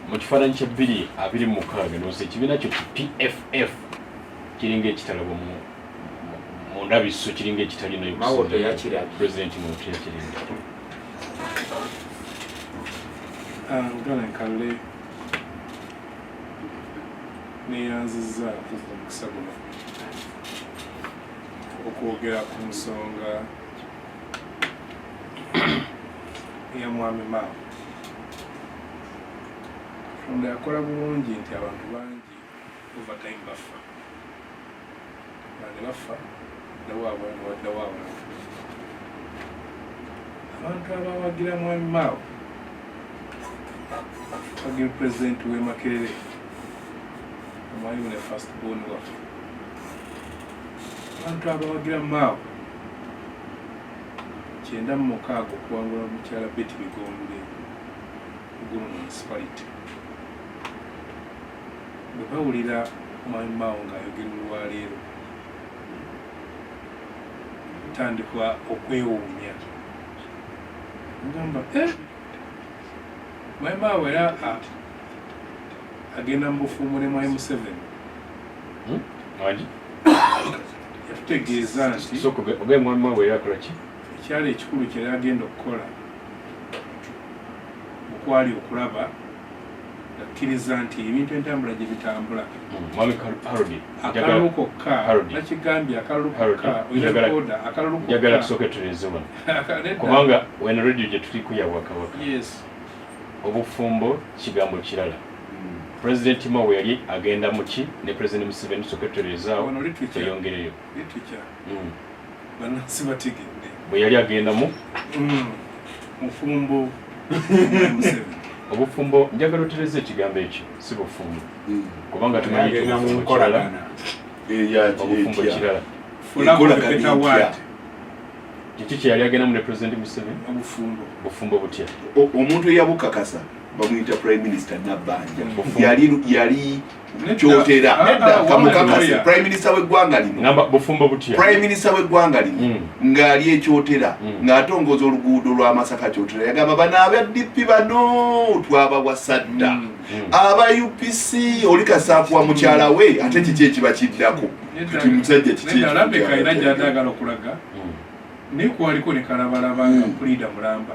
mu kifaananyi kya bbiri abiri mukaaga nonsi ekibiina kyo ki pff kiringa ekitalabo mu ndabiso kiringa ekitali nayo president muntu yakiringa ngalenkalule neyanziza omukisa guno okwogera ku nsonga ya mwami maamu katonda yakola bulungi nti abantu bangi overtime baffa bane baffa dawaabwe nga waddawaabwe abantu abawagira mwami maawo wagira pulezidenti w'e makerere omwalimu ne fast bon waffe abantu abawagira maawo kyenda mu mukaaga okuwangula mukyala Betty Bigombe ku Gulu Municipality. Bwe bawulira Mwami Mao ng'ayogera olwaleero kutandikwa okwewuunya ngamba eh, Mwami Mao era agenda mu bufumbo ne Mwami Museveni. Hmm? yatutegeeza nti ekyali ekikulu kyeyali agenda okukola okwali okulaba akkiriza nti ebintu entambula gye bitambula hmm, akalulu kokka nakigambye akalulu kokka oyaoda akalulu njagala tusooke tureeze wano kubanga wena radio gye tuliko yawakawaka obufumbo kigambo kirala President Mao yali agenda muki ne President Museveni sokweterezaawo eyongereyo mm. banansi bategedde bwe yali agenda mu mm. mufumbo obufumbo njagala otereza ekigambo ekyo si bufumbo mm. kubanga tumanyiobufumbo kirala kiki kyeyali agendamu ne President Museveni bufumbo butya omuntu eyabukakasa bamuyita prime minister nabbanja yali yali kyotera kamukakase prime minister w'eggwanga linoprime minister w'eggwanga lino hmm. ng'ali ekyotera hmm. ng'atongoza oluguudo lwa masaka kyotera yagamba bano aba dp bano twabawasadda hmm. aba upc oli kasaakuwa mukyala we ate kiki ekiba kiddako kati musajja kiki naye kwaliko ne kalabalaba nga pulida mulamba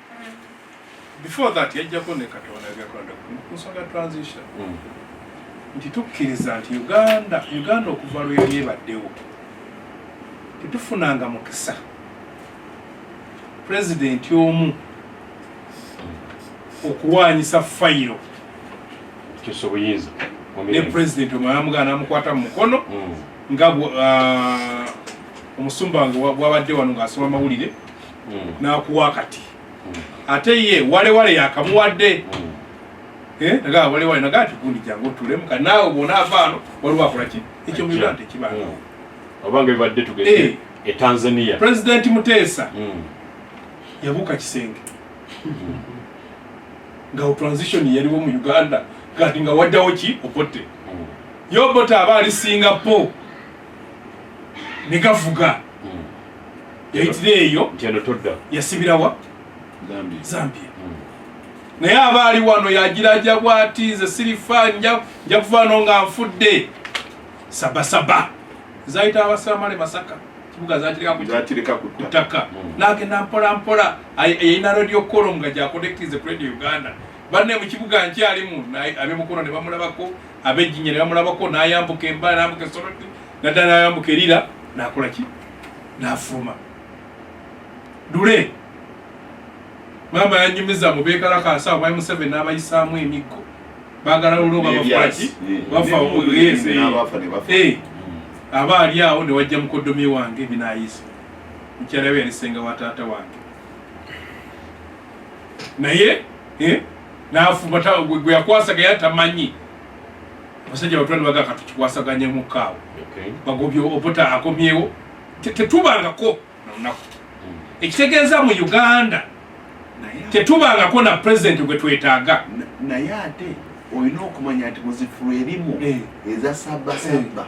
before that yajjako ne katonda agakwata ku nsonga transition mm. nti tukkiriza nti uganda uganda okuva lwe yali ebaddewo tetufunanga mukisa pulezidenti omu okuwaanyisa fayiro kyosubuyinza ne pulezidenti omu ayamugaa namukwata mu mukono mm. nga ah, omusumba nga bwabadde wano ng'asoma amawulire hmm. nakuwa kati hmm. ate ye walewale yakamuwadde hmm. eh, nagaa walewale nagaa tikundi jangu otulemu ka naawe bwona avaano waliwo akola ki ekyo muyula nti ekibanga obanga bibadde tugende eh. e tanzania pulezidenti muteesa yabuuka kisenge nga transition yaliwo mu uganda kati nga waddawo ki opotte yobota aba ali singapore ne gavuga hmm. yayitira eyo yasibirawa zambia hmm. naye aba ali wano yagiraja bwati nze sirifa nja kuvaano nga nfudde sabasaba zayita abasamale masaka kibuga zakireka ku ttaka hmm. nagenda mpola mpola yayina radio colom nga gyakonektize ku radio uganda banne mu kibuga nkyalimu abemukono ne bamulabako abejjinya ne bamulabako nayambuka embala nambuka esoroti nadda nayambuka erira nakola ki nafuluma dule maama yanyumiza mubekalakaasa omwai museveni nabayisaamu emiggo bagala lule obabafaki bafa ogeze aba ali awo newajja mukodomi wange binayisa mukyala we yalisenga wa taata wange naye eh, nafumata gwe yakwasaga yatamanyi basajja batwala baga katukikwasaganye mu kaawo bagobye obota akomyewo tetubangako nonaku hmm. ekitegeeza mu uganda tetubangako na pulezidenti gwe twetaaga naye ate olina okumanya nti muzifulu erimu eh. eza sabbasabba eh.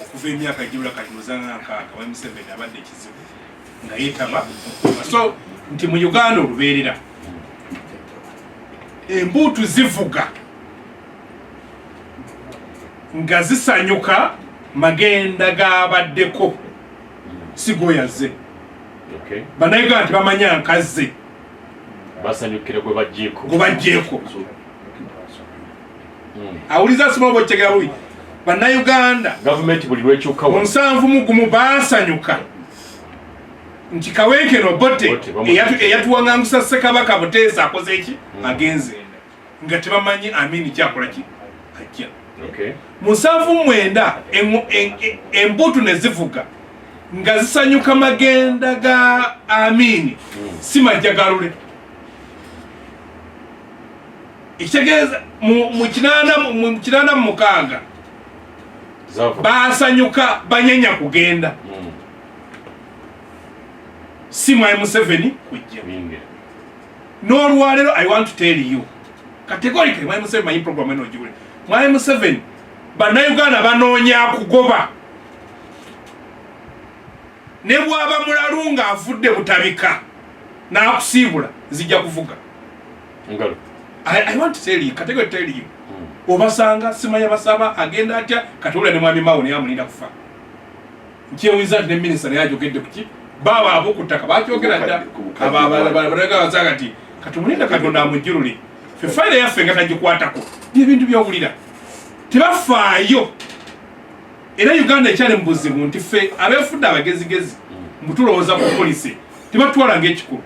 okuva emyaka gyula kati muzana nankaaga wali museveni abadde ekizibu nga yetaba so nti mu uganda olubeerera embuutu zivuga nga zisanyuka magenda gabaddeko sigoyaze banayuganda nti bamanya nkazze basanyukire gwe bajjeeko hmm. awuliza sima oba okitegera bubi bannayuganda gavumenti buli lwekyuka munsanvu mugumu baasanyuka nti kawenkeno bote eyatuwaŋangusa ssekabaka buteesa akoze eki hmm. agenze nga tebamanyi amini kyakola ki ajja munsanvu mwenda embutu ne zivuga nga zisanyuka magenda ga amini hmm. si majja galule ekitegeeza mu kinaana mu mukaaga baasanyuka banyanya kugenda hmm. si mwai museveni kujja n'olwaleero i want to tell you kategorika mwai museveni manyi program eno ogiwule mwai museveni bannayuganda banoonya kugoba ne bwaba mulalu ng'avudde butabika n'akusiibula zijja kuvuga Ngalo. I, I want to tell you, katego tell you. Mm. Obasanga sima ya basaba agenda atya katula ne mwami mawo ne amulinda kufa. Nkiye wizard ne minister yaje ogedde kuki? Baba abo kutaka bacho ogera da. Aba bala bala bala gawa zagati. Katumulinda katonda amujiruli. Fe file ya fenga tajikwata ko. Bye bintu bya kulira. Tibafaayo. Era Uganda ekyali mbuzi bunti fe abefudda abagezi gezi. Mbutulo mm. oza ku police. Tibatwala ngekikulu.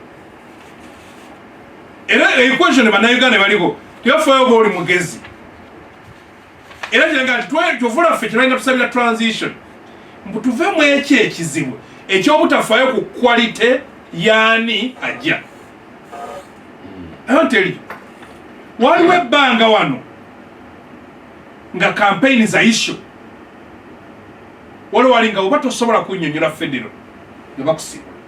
era equation bannayuganda baliko tebafaayo oba oli mugezi era kiraga nti kyovula ffe kyebalinga tusabira transition mbu tuve mu ekyo ekizibu ekyobutafaayo ku quality yaani ajja ayoteli waliwo ebbanga wano nga kampeyini za isho waliwo walinga oba tosobola kunyonyola federo ne bakusiba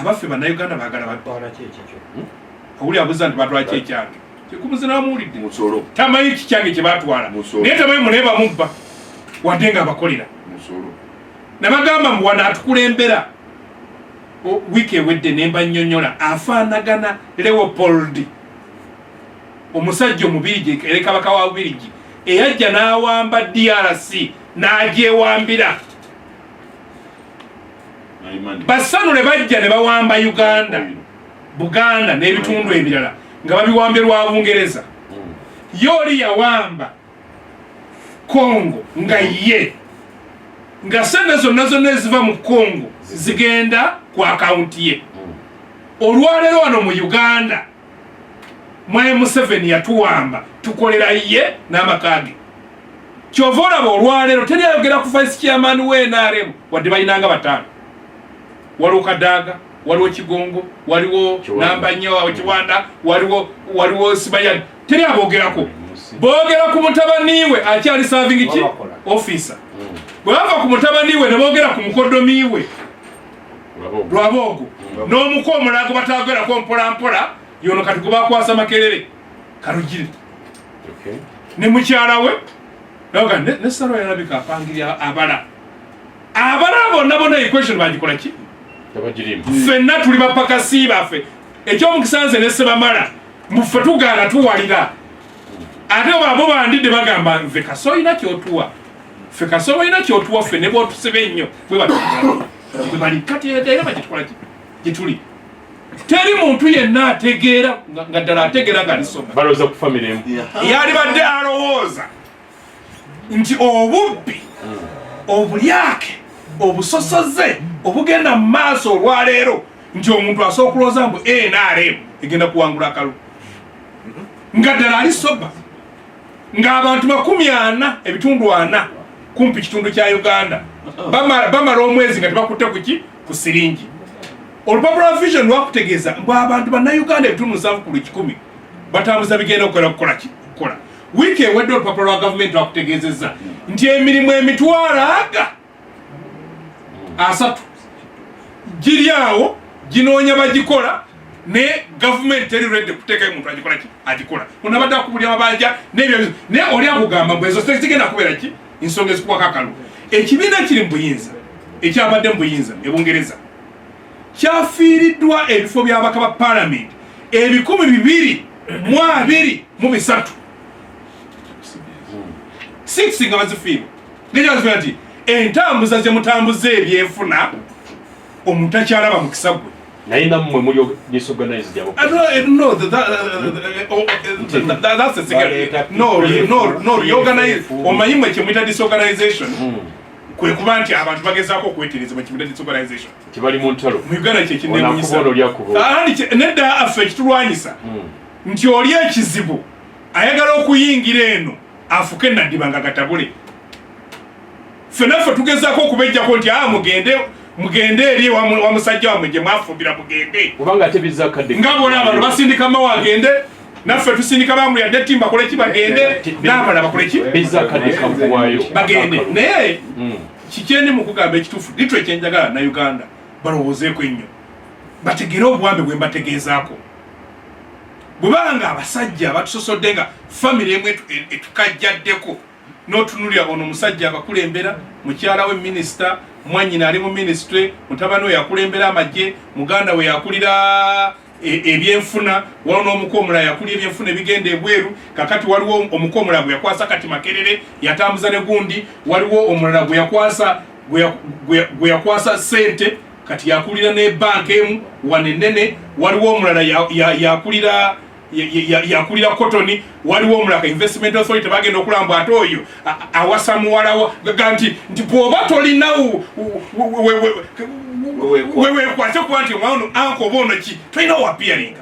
abaffe bannayuganda bagala batwala kyekikyo hmm? owuli abuza nti batwala kyekyange kikumuzinaamuwulidde musolo tamanyi kikyange kye batwala naye tamanyi muneeba mubba wadde nga abakolera musolo nabagamba mbu wano atukulembera wiiki ewedde nemba nnyonyola afaanagana leopold omusajja omubirigi erekabaka wa bubirigi eyajja n'awamba drc n'agyewambira basanule bajja ne bawamba uganda buganda n'ebitundu ebirala nga babiwambye lwa bungereza ye oli yawamba congo nga ye nga sente zonna zonna eziva mu congo zigenda ku akawunti ye olwaleero wano mu uganda mwe museveni yatuwamba tukolera ye n'amaka ge kyova olaba olwaleero teri ayogera ku vice chairman we nrm wadde balinanga bataano waliwo kadaaga waliwo kigongo waliwo namba nnyo awo kiwanda waliwo waliwo sibayani teri abogerako boogera ku mutabaniwe akyali serving ki officer mm. bwe bava ku mutabaniwe ne boogera ku mukodomiwe lwaboogo mm. n'omuku omulago bataagerako mpolampola yono kati gubakwasa makerere kalugire ne mukyala we naga ne salo yalabika apangirya abala abala bonna bona equation bagikola ki fenna tuli bapakasi baffe ekyomukisanze ne sebamala muffe tugaana tuwalira ate babo bandidde bagamba nve kasa olina kyotuwa fe kasa olina kyotuwa ffe ne bwotusiba ennyo bwe bali kati era bakitwala gyetuli teri muntu yenna ategeera nga ddala ategeera nga lisoma eyalibadde alowooza nti obubbi obulyake obusosoze obugenda mu maaso olwaleero nti omuntu asobola okulooza mbu nrm egenda kuwangula akalu nga ddala ali soba ng'abantu makumi ana ebitundu ana kumpi kitundu kya uganda bamala omwezi nga tebakutte kuki ku siringi olupapula lwa vision lwakutegeeza mbu abantu bannayuganda ebitundu nsanvu ku lukikumi batambuza bigenda okukola kukola ki kukola Wiiki ewedde olupapula lwa gavumenti lwakutegeezezza nti emirimu emitwalo aga asatu giri awo ginoonya bagikola naye gavumenti teri redi kuteekayo muntu agikola ki agikola ono abadde akubulya mabanja nebyo naye oli akugamba mbu ezo zigenda kubeera ki ensonga ezikuwako akalu ekibiina kiri mu buyinza ekyabadde mu buyinza ebungereza kyafiiriddwa ebifo by'abaka ba paalamenti ebikumi bibiri mu abiri mu bisatu six nga bazifiirwa nekyazifiira nti entambuza zemutambuza ebyenfuna omuntu akyalaba mukisa gwe naye namwe muli disorganized abo uh, no eh, no that that eh, oh, eh, that's a cigarette no no no reorganize omanyi mwe kye mwita disorganization hmm. kwe kuba nti abantu bagezaako okwetereza mu kimuda disorganization kibali mu ntalo mu uganda kye kineewunyisa nedda affe ekitulwanyisa hmm. nti oli ekizibu ayagala okuyingira eno afuke naddiba nga gatabule fenaffe tugezaako okubejjako nti a ah, mugende mugende eri wa musajja wamwe gye mwafumbira mugende nga bona abantu basindika mawa agende naffe tusindika bamuli adde ti mbakole ki bagende n'abala bakole ki bagende naye hmm. kikyendi mu kugamba ekituufu litwe ekyenjagala na uganda balowoozeeko ennyo bategere obuwambe bwe mbategeezaako bwebanga abasajja batusosodde nga famiry emu etukajjaddeko notunulira ono musajja abakulembera mukyala we minisita mwanyina ali mu minisitule mutabani we yakulembera amagye muganda we yakulira e, ebyenfuna waliwo n'omuko omulala yakulira ebyenfuna ebigenda ebweru kakati waliwo omuko omulala gwe yakwasa kati makerere yatambuza ne gundi waliwo omulala gwe yakwasa gwe yakwasa sente kati yakulira ne banka emu wanenene waliwo omulala yakulira ya, ya yakulira kotoni waliwo omulaka investment authority bagenda okulamba ate oyo awasa muwalawo ga nti nti bwoba tolina wewekwase kuba nti omwana ono anka oba ono ki tolina wapiyaringa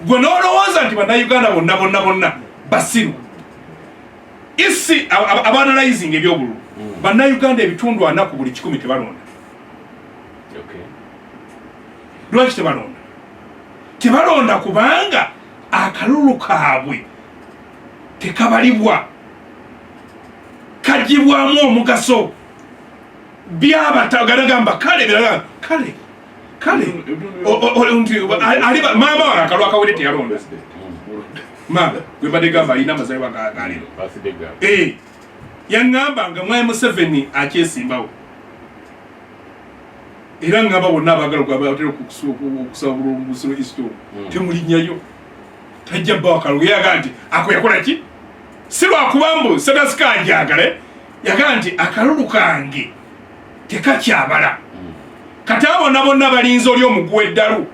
gwe nolowooza nti bannayuganda bonna bonna bonna basiru isi abanalizing ebyobululu hmm. bannayuganda ebitundu anaku buli kikumi tebalonda lwaki tebalonda tebalonda kubanga akalulu kaabwe tekabalibwa kagibwamu omugaso byabatagamba kale kale kale maama wange akalu akawere teyalonda maama gwebadde gamba alina amazalibwa galero eh, yaŋŋamba nga mwai museveni akyesimbawo era ngamba bonna abaagala kubatera okusaba bulungu busiro isito hmm. temulinyayo tajja bawakalo yaga nti ako yakola ki si lwakuba mbu sadasika anjagale yaga nti akalulu kange tekakyabala hmm. kati abona bonna balinza oli omuguwa eddalu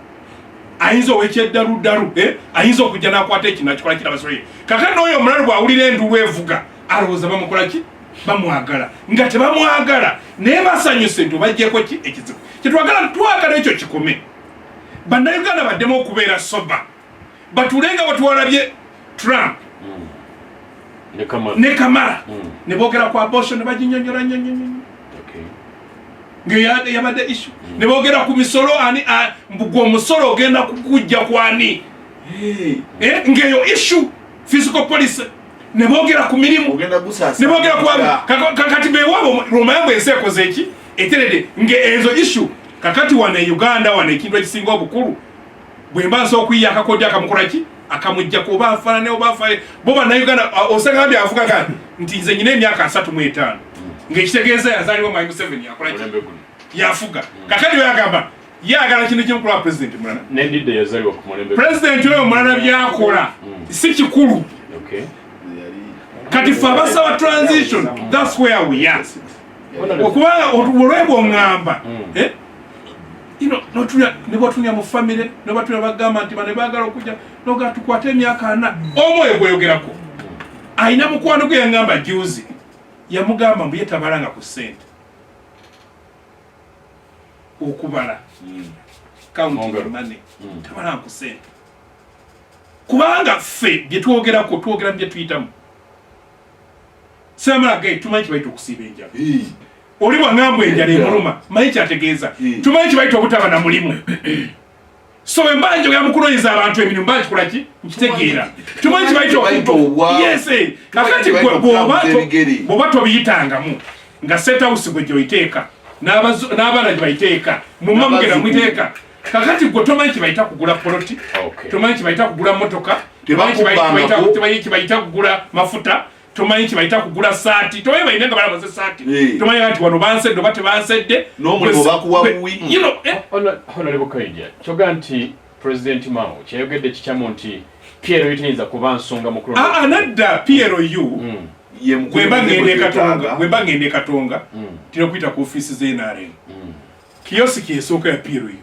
ayinza owekyeddaludalu eh? ayinza okujja nakwata ekinakikola kirabasoye kakati nooyo omulalu bwawulira endulu evuga alowooza bamukola ki bamwagala nga tebamwagala naye basanyuse nti obajjeko ki ekizibu kyetwagala twagala ekyo kikome bannayuganda baddemu okubeera soba batule nga batwalabye trump ne kamala hmm. ne boogera ku abosho ne baginyonyola nyonyonyo ngeyabadde isu hmm. ne boogera ku misolo ani mbugwa omusolo ogenda kukujja kwani eh, ngeyo isu physical policy ne boogera ku mirimu ne boogera ku bantu kakati bewaabo lwomayambo ensi ekoze eki eterede nga enzo ishu kakati wano e uganda wano ekintu ekisinga obukulu bwe mba nsobola okuyiya akakodyo akamukola ki akamujjako oba afaanane oba afaye bo bannauganda osanga nti avuga gani nti nze nyina emyaka asatu mu etaano ng'ekitegeeza yazaalibwa mwai museveni yakola ki yafuga kakati beyagamba ye agala kintu kimu kulaba pulezidenti mulala nendidde yazaliwa ku mulembe pulezidenti oyo mulala byakola mm. si kikulu kati fe abasaba transition thats where we are okubanga olwebwa oŋŋamba mm. eh? nebatunia mu famire nebatunia bagamba nti bane bagala okujja noga tukwate emyaka ana omwoyo gweyogerako alina mukwano gwe yangamba juzi yamugamba mbu yetabalanga ku sente okubala hmm. kawuntimane hmm. tabala ku sente kubanga ffe byetwogerako twogera byetuyitamu samalaga tumanyi kibaita okusiiba enjala oli bwangambwa enjala emuluma manyi kyategeeza tumanyi kibaita obutaba na mulimu so bwe mba njogera mu kunoonyeza abantu emirimu mba nkikola ki nkitegeera tumanyi kibayita okuyese kakati bwoba tobiyitangamu nga setawusi gwe gyoyiteeka n'abaana gye bayiteeka mu mamugera mwiteeka kakati gwe tomanyi kibayita kugula poloti tomanyi kibayita kugula motoka tomanyi kibayita kugula mafuta tomanyi kibayita kugula saati tomanyi balina nga balabaze saati eh. tomanyi kati wano bansedde oba tebansedde n'omulimu bakuwa buwi eh. honorable kaija kyoga nti president mao kyeyogedde kikyamu nti piero yitayinza kuba nsonga mukulu ah, ah, nadda piero u hmm. wemba ngenda ekatonga wemba ngenda ekatonga hmm. tira kuyita ku ofiisi z'nrm hmm. kiyosiki esooka ya piero u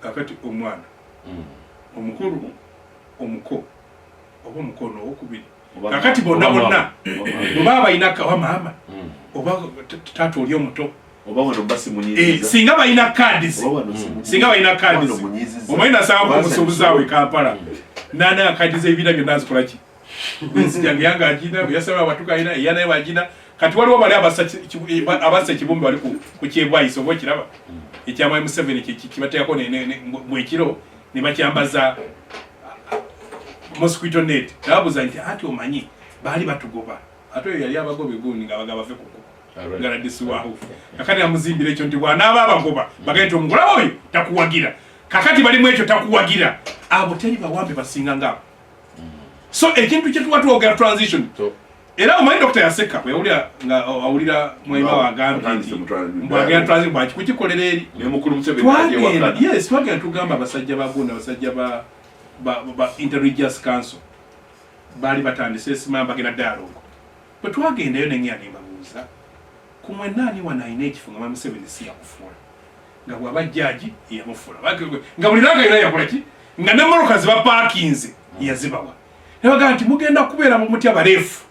kakati omwana mm. omukulu omuko oba omukono owokubiri kakati bonna bonna oba balina kawa maama mm. oba taata oli omuto eh, singa balina kadis mm. singa balina kadis omanyi nasanga kumusuubuzi awo ekampala nana akadiza ebira byonna azikolaki nzijanga yanga ajina yasaba abatuka ina yana yaba ajina kati waliwo bali abasa eh, abasa kibumbi wali ku kyebwa iso bo kiraba ekyama museveni kibateyako mwekiro ne bakyambaza mosquito net nababuza nti ati omanyi baali batugoba ate oyo yali abagoba egundi nga bagaba bave kuku ngaladisiwaho kakati amuzimbira ekyo nti bwanaaba abagoba bagaye ti omugulaba oyo takuwagira kakati balimu ekyo takuwagira abo teri bawambe basinga ngaabo so ekintu kyetuba twogera transition era omanyi dokita yaseka yawulira nga awulira mwema wagambye nti mbwagera transition bwaki kukikolera eri twagenda yes twagenda tugamba abasajja ba gunda abasajja ba ba interreligious council baali batandise esimamba bagenda dialogue bwe twagendayo nengeya nembabuuza kumwe naani wanaayina ekifo nga mamuseveni siyakufuula nga bwaba jaaji yamufula nga buli langa yona yakolaki nga ne moroka ziba pakinze yazibawa nabaga nti mugenda kubeera mumutya barefu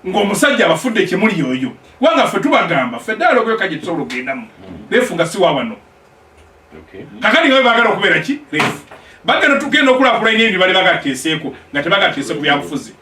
ngaomusajja abafudde ekyemuli yoyo kubanga ffe tubagamba ffe ddaala okuyoka gye tusobola okugendamu refu nga siwa wano kakati nga bagala okubeera ki refu bagenda tugenda okulakulanya ebyo bali bagateeseeko nga tebagateese ku byabufuzi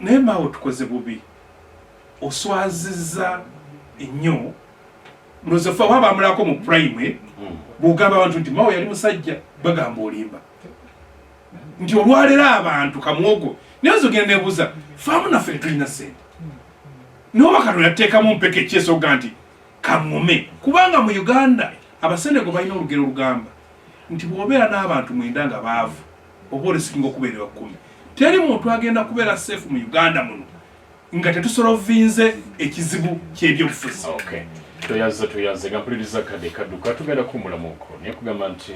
Naye maawe otukoze bubi, oswaziza ennyo mulozo fe waba amulako mu prime hmm. bwogamba abantu nti maawe yali musajja bagamba olimba nti olwalero abantu kamwogo naye nzogenda nebuuza faamu naffe tetulina sente noba katonda tuteekamu mpeka ekyesoga nti kaŋome kubanga mu uganda abasenego balina olugero olugamba nti bwobeera n'abantu mwenda nga baavu oba olisikinga okubeerera kkumi teri muntu agenda kubeera seefu mu uganda muno nga tetusolovinze ekizibu kyebyobufuzi toyaze toyaze nga mpuliriza kade kaduka tugenda kumulamuko naye kugamba nti